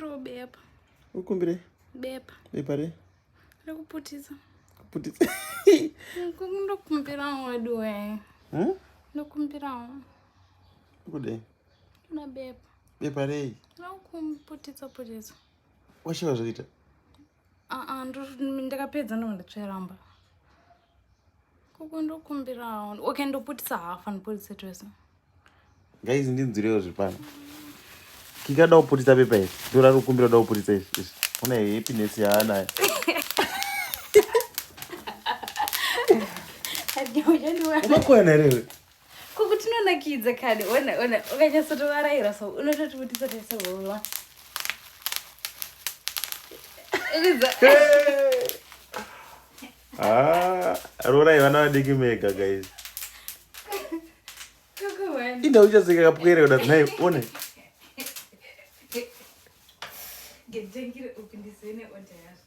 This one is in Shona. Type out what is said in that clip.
Robepa. Ukumbire? Bepa. Bepa re? Rekuputisa. Kuputisa. Ndokumbirawo weduwe. Hmm? Ndokumbirawo. Kude. Kuda bepa. Bepa rei? Rokumputisa putisa. Washiva zvoita? Ah ah, ndakapedza ndonga ndatsveramba. Kuku ndokumbirawo. Okay, ndoputisa hafa ndoputisa twese. Guys ndinzwirewo zvipano. Kika da kuputisa pepa iri. Dora rukumbiro da kuputisa iri. Una happiness yaanayo. Umakwana here iwe? Ko kuti unonakidza kani. Ona ona ukanyasotovaraira so unototi kutisa tese wowa. Hey! Ah, rorai vana vadiki mega guys. Inda uchazika kapwere uda naye one. Ngejengire upindisene order yacho.